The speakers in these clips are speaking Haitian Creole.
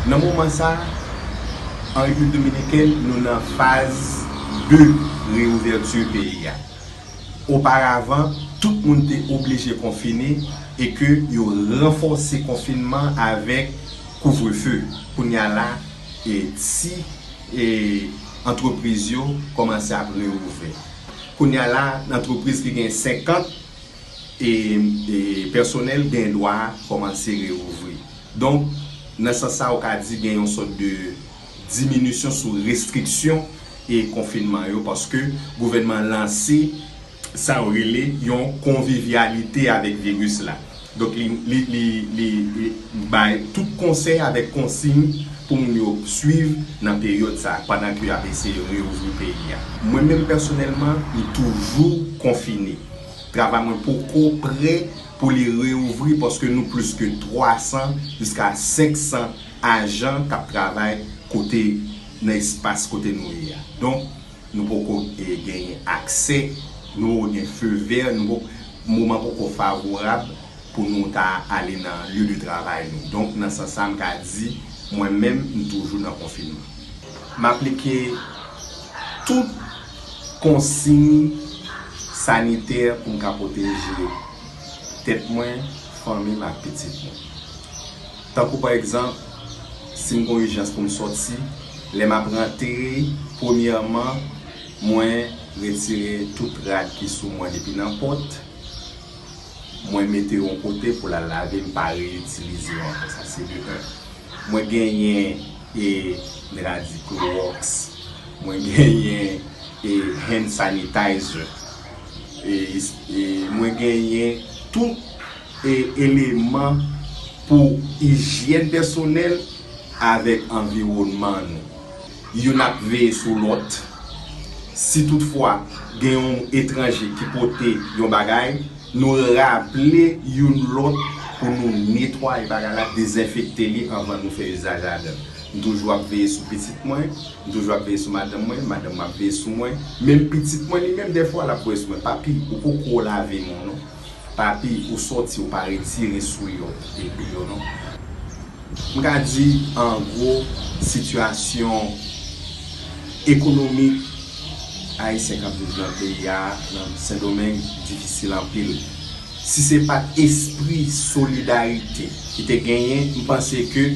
Nan moman sa, an Repiblik Dominikèn, nou nan faz 2 reyouvèti peyi a. Oparavan, tout moun te oblije konfine e ke yo ranfòse konfinman avèk kouvrefe. Kounye a la, ti antrepriz yo kòmanse ap reouvè. Kounye a la, antrepriz ki gen 50 pèsonèl gen dwa kòmanse reouvri. Donk, nan sans sa ou ka di gen yon sòt de. diminisyon sou restriksyon e konfinman yo paske gouvènman an lanse sa yo rele yon konvivyalite avèk viris la. Donk li bay tout konsèy avèk konsiyn pou moun yo swiv nan peryòd sa pandan ke y ap eseye reouvri peyi a. Mwen menm pèsonèlman m toujou konfine. Travay mwen poko prè pou li reouvri paske nou plis ke 300 jiska 500 Ajan k ap travay kote nan espas kote nou ye a. Donk, nou poko genyen aksè, nou poko gen feu vert, nou poko, moman poko favorab pou nou ta ale nan lieu de travay nou. Donk, nan sans sa, m ka di mwen menm, m toujou nan konfinman. M aplike tout konsiy sanitè pou m ka pwoteje tèt mwen, fanmi m ak pitit mwen. Tankou pa egzanp, si m gen yon ijans pou m soti, lè m ap rantre, premyèman, mwen retire tout rad ki sou mwen depi nan pòt, mwen mete yo yon kote pou l al lave, m pa reyitilize yo ankò. Sa se de un. Mwen genyen e dra di klowòks, mwen genyen e hand sanitizer, e mwen genyen tout. Eleman pou ijyèn pèsonèl avèk anviwònman nou. Youn ap veye sou lòt. Si tout fwa gen yon etranje ki pote yon bagay, nou raple youn lòt pou nou netwaye bagay la, dezenfekte li anvan nou fè izaj ladan l. M toujou ap veye sou pitit mwen, m toujou ap veye sou madanm mwen, madanm mwen ap veye sou mwen. Menm pitit mwen li menm dèfwa l ap wè sou mwen, papi ou poko lave men w non. Papi ou soti ou pa retire sou yo epi yo non. M ka di an gwo sitiyasyon ekonomik ayisyen k ap viv nan peyi a nan Sendomeng difisil anpil. Si se pa t espri solidarite ki te genyen m panse ke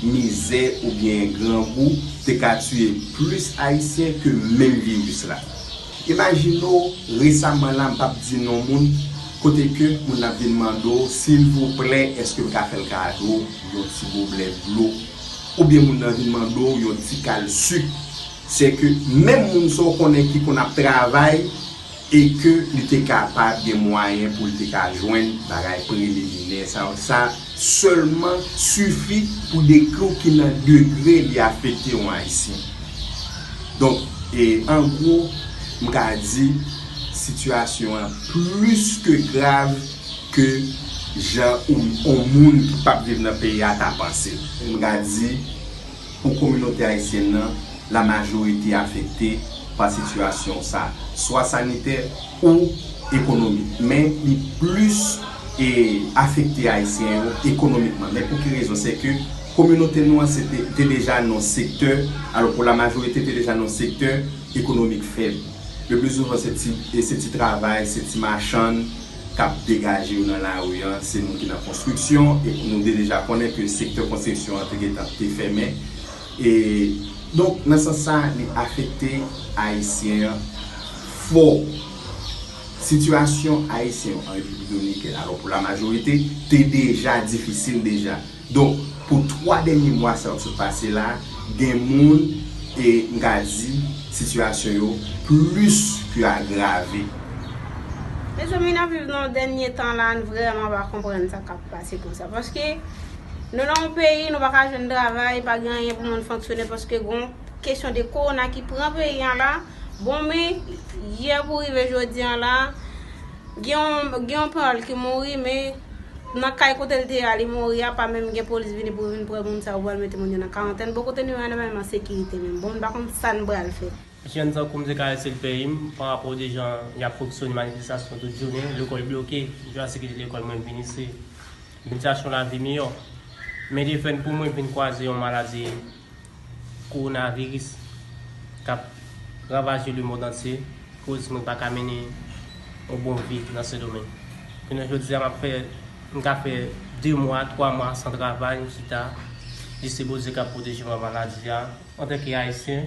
mizè oubyen grangou te ka tiye plis ayisyen ke menm viris la. Imajine w resaman la, m p ap di non moun, kote ke moun nan ap vin mande w, silvouplè èske m ka fè l kado yon ti goblè dlo? Oubyen moun nan vin mande w yon ti kal suk. Se ke menm moun sa w konnen ki konn ap travay e ke li te kapab gen mwayen pou l te ka jwenn bagay preliminè sa yo, sa sèlman sifi pou dekri w ki nan degre li afekte yon Ayisyen. Donk, an gwo, m ka di sitiyasyon an plis ke grav ke jan yon moun ki pap viv nan peyi a ta panse. M ka di, pou kominote ayisyèn nan, la majorite afekte pa sitiyasyon sa, swa sanitè, o ekonomik men li plis e afekte ayisyen yo ekonomikman men pou ki rezon se ke kominote nou an se te te deja nan yon sektè alò pou la majorite te deja nan yon sektè ekonomik fèb le pli souvan se ti e se ti travay se ti machann kap degaje yo nan lari an se moun ki nan konstriksyon e nou te deja konnen ke sektè konstriksyon an te gentan te fèmen E donk nan sans sa li afekte ayisyen an fò. Sitiyasyon ayisyen yo an Repiblik Dominikèn alò pou la majorite te deja difisil deja. Donk pou 3 dènye mwa sa yo k sot pase la gen moun e m ka di sitiyasyon yo plis ke agrave. Mezanmi nap viv nan dènye tan la n vrèman pa konprann sa kap. pase konsa. Paske nou nan yon peyi nou pa ka jwenn travay, pa gen anyen pou moun fonksyone paske gon kesyon de kowona ki pran peyi an la. Bon men, yè pou rive jodi an la, gen yon panyòl ki mouri men nan kay kote l te ye a li mouri a pa menm gen polis vini pou vin pran moun sa yo pou al mete moun yo nan karantèn. Bon kote nou ye a nan menm ansekirite menm. Bon m pa konn sa n pral fè. Jèn tankou m te karese l peyi m pa rapò de jan y ap fonksyone manifestasyon tout jounen, lekòl bloke, jan se kite lekòl mwen vini se bitasyon lavi miyò. Men defen pou mwen vin kwaze yon maladi kowonaviris k ap ravaje lemond antye koz mwen pa ka mennen yon bon vi nan Sendomeng. Jounen jodi a m ap fè m ka fè 2 mwa, 3 mwa san travay m chita jis se Bondye k ap pwoteje m a maladi a antanke Ayisyen.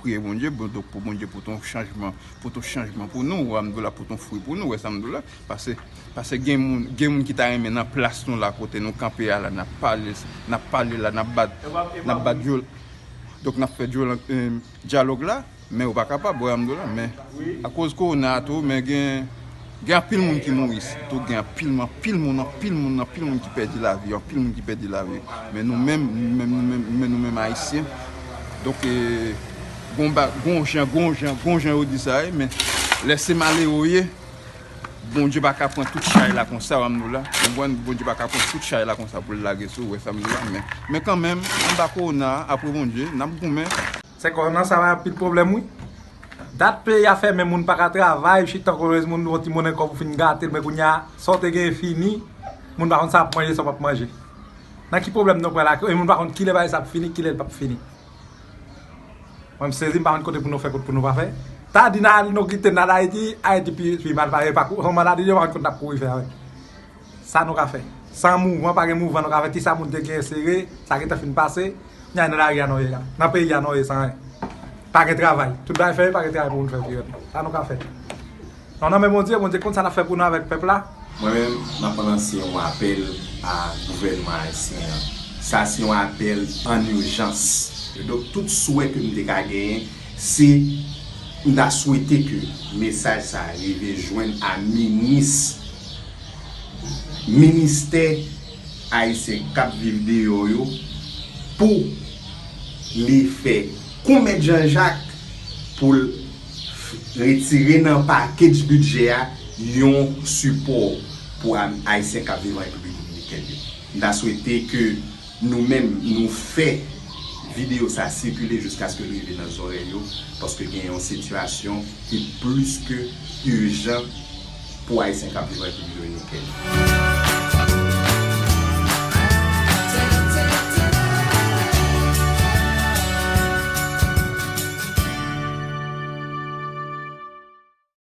Priye Bondye pou pou Bondye pou ton chanjman pou ton chanjman pou nou wè amdou la pou ton fwi pou nou wè samdou la pase pase gen moun gen moun ki ta renmen nan plas nou la kote nou kanpe a la nap pale nap pale la nap bat nap bat dyol dok nap fè dyol dyalog la men ou pa kapab wè amdou la men akoz korona a tou men gen Gen anpil moun ki mouri isit tou, gen anpil moun, anpil moun, anpil moun, anpil moun ki pèdi lavi yo, anpil moun ki pèdi lavi yo. Men nou menm, nou menm, nou menm, nou menm, nou menm Ayisyen, donk e, gon ba, gon jan, gon jan, gon jan yo di sa ye, men lè se malere ou ye, Bondye pa ka pran tout chay la konsa w, Amdoula, konprann, Bondye pa ka pran tout chay la konsa pou l lage sou ou, wè sa m di la, men, men kanmenm, anba kowona a, apre Bondye, n ap goumen. Se korona sa bay anpil pwoblèm wi. Dat peyi a fèmen moun pa ka travay, chitan kolonez moun yon ti monnen kòb ou fin gate l men kounye a sa w te genyen fini, moun pa konn sa wap manje sa w pap manje. Nan ki pwoblèm nou pral ak yo e moun pa konn kilè bagay sa ap fini, kilè l pap fini. Mwen m sezi m pa konn kote pou nou fè kot pou nou pa fè. Ta di nan al nou kite n al Ayiti, Ayiti pi mal pase pako. Son maladi yo pa konn kot nap kouri fè avèk. Sa nou ka fè? San mouvan pa gen mouvan nou ka fè kisa moun te genyen sere sa gentan fin pase knya nan lari a non ye la nan peyi a non ye san anyen pa gen travay tout bagay fèmen pa gen travay pou moun fè vre menm sa nou ka fè nou nan men Bondye Bondye konn sa lap fè pou nou avèk pèp la. Mwen menm map lanse yon apèl a gouvènman ayisyen an sa se yon apèl an urjans donk tout swè ke m te ka genyen se m ta swete ke mesaj sa rive jwenn a minis Ministè Ayisyen k ap viv deyò yo pou li fè kou Mèt Jan Jak pou l retire nan pakej bidjè a yon sipò pou Ayisyen k ap viv an Repiblik Dominikèn yo. M ta swete ke. Nou menm nou fè video sa sikile jiskaske l rive nan zòrèy yo paske gen yon sitiyasyon ki plis ke ijan pou Ayisyen k ap viv Repiblik Dominikèn.